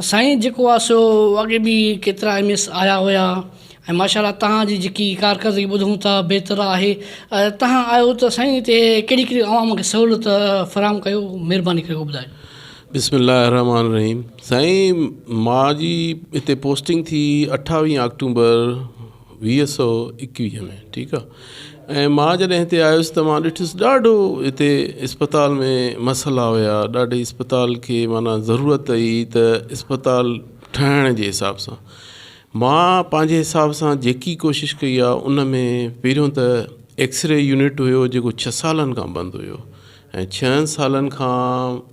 سائين جيڪو آ سو اڳي به ڪيترا ايم ايس آيا هيا ۽ ماشا الله تهان جي جيڪي ڪارڪردگي ٻڌون ٿا بهتر آهي تهان آيو ته سائين هتي ڪهڙي ڪهڙي عوام کي سهولت فراهم ڪيو مهرباني ڪري ٻڌايو. بسم الله الرحمٰن الرحيم سائين مان جي هتي پوسٽنگ ٿي اٺاويهه آڪٽومبر ويهه سؤ ايڪويهه ۾ ٺيڪ آ ۽ مان جڏهن هتي آيس ته مان ڏٺس ڏاڍو هتي اسپتال ۾ مسئلا هيا ڏاڍي اسپتال کي معنيٰ ضرورت هئي ته اسپتال ٺهڻ جي حساب سان مان پنهنجي حساب سان جيڪي ڪوشش ڪئي آ ان ۾ پهريون ته ايڪسري يونٽ هيو جيڪو ڇهه سالن کان بند هيو ۽ ڇهن سالن کان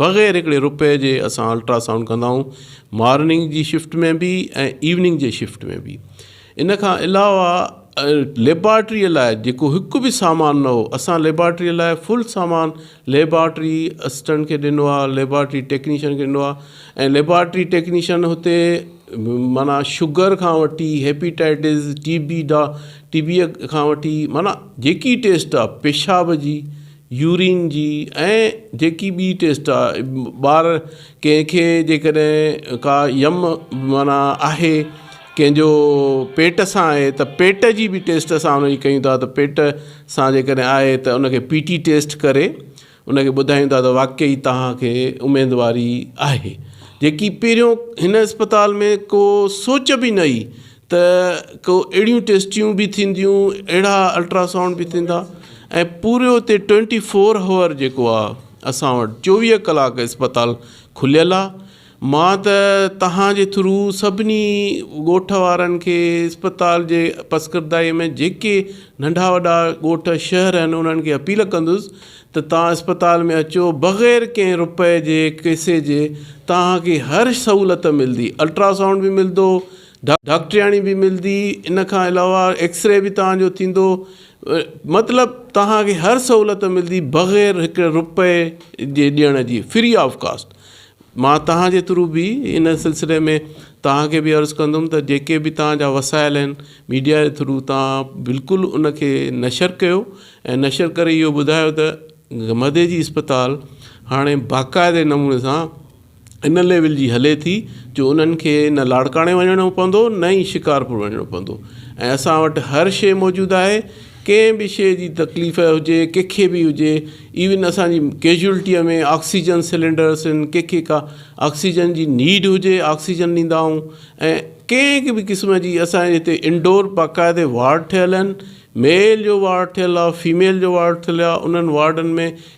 بغير هڪڙي روپئي جي اسان الٽرا سائونڊ ڪندا آهيون مارننگ جي شفٽ ۾ به ۽ ايوننگ جي شفٽ ۾ به ان کان علاوه ليبارٽري لاء جيڪو هڪ به سامان نه هو اسان ليبارٽري لاء فل سامان ليبارٽري اسٽنٽ کي ڏنو آهي ليبارٽري ٽيڪنيشن کي ڏنو آهي ۽ ليبارٽري ٽيڪنيشن هتي معنيٰ شگر کان وٺي هيپيٽائٽس ٽي بي ڊا ٽي بي کان وٺي معنيٰ جيڪي ٽيسٽ آهي پيشاب جي يورين جي ۽ جيڪي ٻي ٽيسٽ آ ٻار ڪنهن کي جيڪڏهن ڪا يم معنيٰ آهي ڪنهن جو پيٽ سان آهي ته پيٽ جي بي ٽيسٽ اسان ان جي ڪيون ٿا ته پيٽ سان جيڪڏهن آهي ته ان کي پي ٽي ٽيسٽ ڪري ان کي ٻڌايون ٿا ته واقعي توهان کي اميدواري آهي جيڪي پهريون هن اسپتال ۾ ڪو سوچ بي نه هئي ته ڪو اهڙيون ٽيسٽيون به ٿينديون اهڙا الٽراسائونڊ به ٿيندا ۽ پورو اتي ٽوئنٽي فور هاور جيڪو آهي اسان وٽ چوويهه ڪلاڪ اسپتال کليل آهي مان ته توهان جي ٿرو سڀني ڳوٺ وارن کي اسپتال جي پسگردائي ۾ جيڪي ننڍا وڏا ڳوٺ شهر آهن انهن کي اپيل ڪندس ته توهان اسپتال ۾ اچو بغير ڪنهن روپئي جي ڪيسي جي توهان کي هر سهولت ملدي الٽراسائونڊ به ملدو ڊاڪٽرياڻي به ملدي ان کان علاوه ايڪس ري به توهان جو ٿيندو مطلب توهان کي هر سهولت ملدي بغير هڪ روپئي جي ڏيڻ جي فري آف ڪاسٽ مان توهان جي ٿرو به ان سلسلي ۾ توهان کي به عرض ڪندم ته جيڪي به توهان جا وسائل آهن ميڊيا جي ٿرو توهان بلڪل ان کي نشر ڪيو ۽ نشر ڪري اهو ٻڌايو ته گمدي جي اسپتال هاڻي باقاعدي نموني سان ان ليول جي هلي ٿي جو انهن کي نه لاڙڪاڻي وڃڻو پوندو نه ئي شڪارپور وڃڻو پوندو ۽ اسان وٽ هر شيء موجود آهي ڪنهن به شيء جي تڪليف هجي ڪنهن کي به هجي ايون اسان جي ڪيجوئلٽيء ۾ آڪسيجن سلينڊرس آهن ڪنهن کي ڪا آڪسيجن جي نيڊ هجي آڪسيجن ڏيندا آهيون ۽ ڪنهن به قسم جي اسان جي هتي انڊور باقاعدي وارڊ ٺهيل آهن ميل جو وارڊ ٺهيل آهي فيميل جو وارڊ ٺهيل آهي انهن وارڊن ۾